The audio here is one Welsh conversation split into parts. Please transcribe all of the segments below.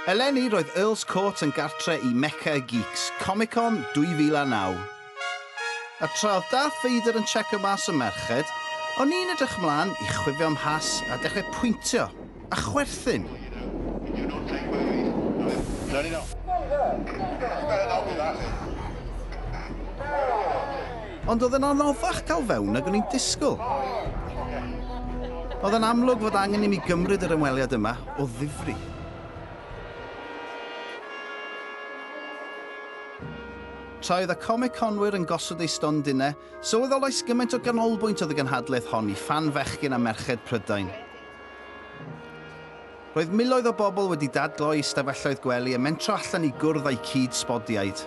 Eleni, roedd Earl's Court yn gartre i Mecca y Geeks, Comic-Con 2009. A tra oedd Darth Vader yn checo mas y merched, o'n i'n edrych mlaen i chwifio mhas a dechrau pwyntio a chwerthin. Ond oedd yn anoddach cael fewn nag o'n i'n disgwyl. Oedd yn amlwg fod angen i mi gymryd yr ymweliad yma o ddifri. Tra oedd y comiconwyr yn gosod eu stondinau, sylweddolais gymaint o ganolbwynt oedd y gynhadledd hon i ffan fechgyn a merched Prydain. Roedd miloedd o bobl wedi dadlo eu stafelloedd gwely a mentro allan i gwrdd â'u cyd-sbodiaid.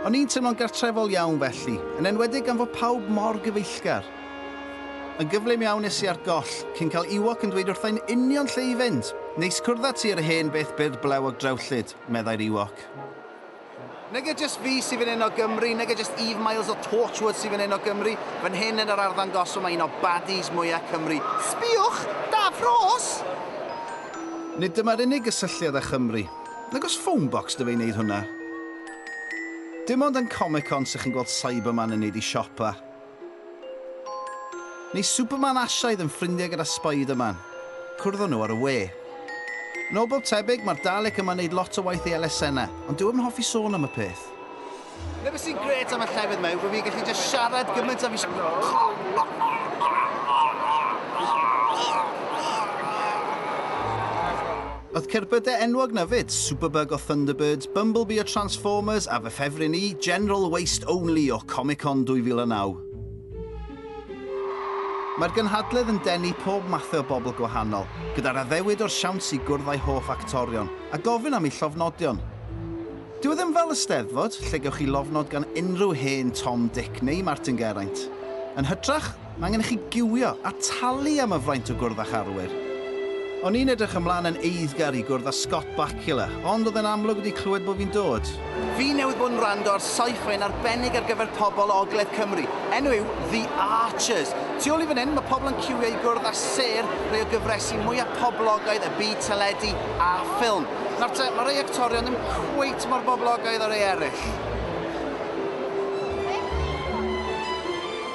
O'n i'n teimlo'n gartrefol iawn felly, yn enwedig gan fod pawb mor gyfeillgar. Yn gyflym iawn es i ar goll, cyn cael Ewok yn dweud wrtha i'n union lle i fynd! Neis cwrdd â ti ar y hen beth byrd blewog drewllyd, meddai'r Ewok. Nag e jyst fi sy'n fan hyn o Gymru, nag e jyst Eve Miles o Torchwood sy'n fan hyn o Gymru, fan hyn yn yr arddangosfa mae un o baddies mwyaf Cymru. Sbïwch! Daf Rhos! Nid dyma'r unig gysylltiad â Chymru. Nag oes Phonebox 'da fe i wneud hwnna. Dim ond yn Comic-Con sy'ch chi'n gweld Cyberman yn wneud ei siopa. Mae Superman a Asiaidd yn ffrindiau gyda Spiderman. Cwrddon nhw ar y we. Yn ôl bob tebyg, mae'r Dalek yma'n neud lot o waith i elusenna, ond dyw e ddim yn hoffi sôn am y peth. Dyna beth sy'n grêt am y llefydd yma yw bod fi'n gallu jyst siarad gymaint a fi isie. Oedd cerbydau enwog 'na 'fyd, Superbug o Thunderbirds, Bumblebee o Transformers a fy ffefryn i, General Waste Only o Comic-Con 2009. Mae'r gynhadledd yn denu pob mathe o bobl gwahanol, gyda'r addewid o'r siawns i gwrdd â'i hoff actorion a gofyn am eu llofnodion. Dyw e ddim fel y Steddfod, lle gewch chi lofnod gan unrhyw hen Tom, Dic neu Martin Geraint. Yn hytrach, Mae angen i chi giwio a talu am y fraint o gwrdd â'ch arwyr. O'n i'n edrych ymlaen yn eiddgar i gwrdd â Scott Bakula, ond oedd e'n amlwg wedi clywed bod fi'n dod. Fi newydd bod yn wrando ar saif hen arbennig ar gyfer pobl o ogledd Cymru. Enw yw The Archers. Tu ôl i fan hyn, mae pobl yn ciwio i gwrdd â sêr rhai o gyfresi mwya poblogaidd y byd teledu a ffilm. Nawr te, mae rhai actorion ddim cweit mor boblogaidd â rhai eraill.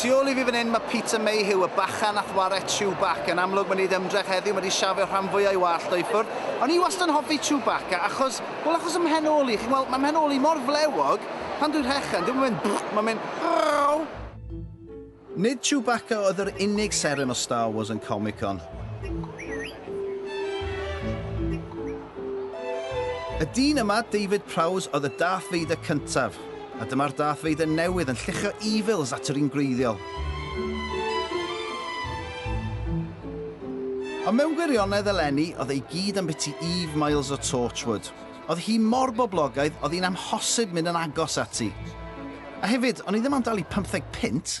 Tu ôl i fi fan hyn mae Peter Mayhew, y bachan a'th ware Chewbacca. Yn amlwg mae'n neud ymdrech heddiw, mae 'di shafio rhan fwya' i wallt o i ffwrdd. O'n i wastad yn hoffi Chewbacca achos, wel achos 'y mhen ôl i, chi'n gweld, mae 'mhen ôl i mor flewog, pan dwi'n rhechen, dyw e'm yn mynd brrrww, mae'n mynd rrrrww. Nid Chewbacca oedd yr unig seren o Star Wars yn Comic Con. Y dyn yma, David Prowse, oedd y Darth Vader cyntaf. A dyma'r Darth Vader newydd yn lluchio evils at yr un gwreiddiol. Ond mewn gwirionedd eleni, oedd e i gyd am biti Eve Miles o Torchwood. Oedd hi mor boblogaidd, oedd hi'n amhosib mynd yn agos ati. A hefyd, o'n i ddim am dalu pymtheg punt!